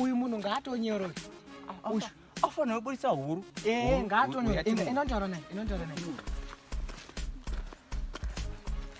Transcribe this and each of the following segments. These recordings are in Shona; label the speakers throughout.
Speaker 1: uyu munhu ngaatonyoroe
Speaker 2: afanira kuburitsa huru eh, ngaatonyoroe
Speaker 1: inontaura naye inontaura naye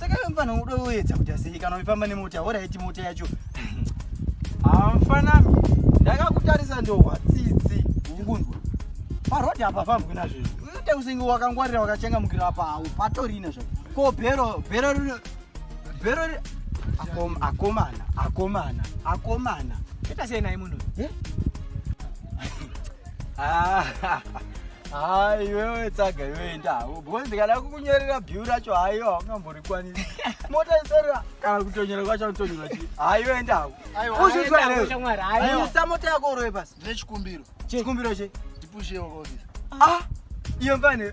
Speaker 2: saka iwe mfana unoda uedza kuti asei kana uifamba nemota oraiti mota yacho haa mfana ndakakutarisa ndohwa tsitsi ukunzwa parodi apa fambwi nazvezvi uite usenge wakangwarira wakachangamukira apa hau patorina zva ko bhero bhero rino bhero akomana akomana akomana ita sei naye
Speaker 1: munhu eh?
Speaker 2: hayi iwewe tsaga iwe enda because ndikada kukunyorera bill racho hayo haungamborikwanisi mota isarira kana kutonyora kwacho anotonyora chi hayi iwe enda hako uzvizvaisa mota yako uroye pasi ndine chikumbiro chikumbiro che
Speaker 3: ndipushewo
Speaker 2: kaofisa ah
Speaker 3: iyo mfane